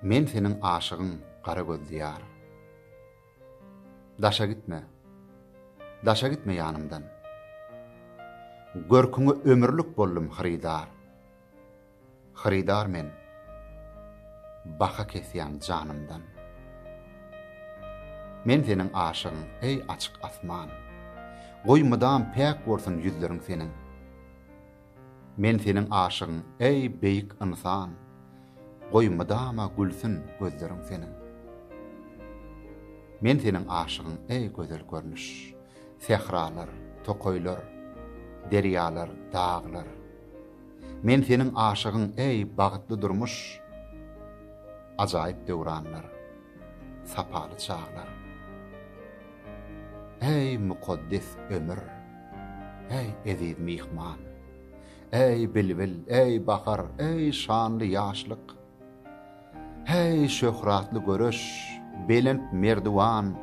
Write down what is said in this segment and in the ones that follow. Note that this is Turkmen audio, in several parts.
Men seniň aşygyň gara gözli ýar. Daşa gitme, daşa gitme ýanymdan. Görküňe ömürlik boldum hyrydar. Hyrydar men, baha kesýän janymdan. Men seniň aşygyň, eý açyk asman. Goý mydam päk bolsun ýüzleriň seniň. Men seniň aşygyň, eý, beýik ynsan! Goý, mydama gülsün gözleriň seniň. Men seniň aşygyň, eý, gözel görnüş! Sähralar, tokaýlar, derýalar, daglar. Men seniň aşygyň, eý, bagtly durmuş! Ajaýyp döwranlar, sapaly çaglar. Äý, mukaddes ömür! Äý, eziz myhman! Äý, bilbil, äý, bahar, äý, şanly ýaşlyk! Häý, şöhratly göreş, belent merdiwan!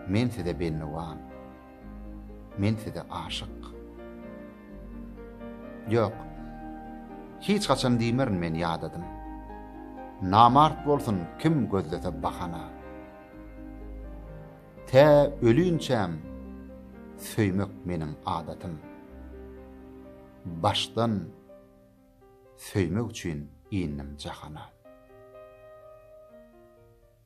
Men size bendiwan, men size aşyk. Ýok, hiç haçan diýmerin men ýadadym. Namart bolsun kim gözlese bahana. Tä ölünçäm söýmek meniň adatym. Başdan söýmek üçin indim jahana.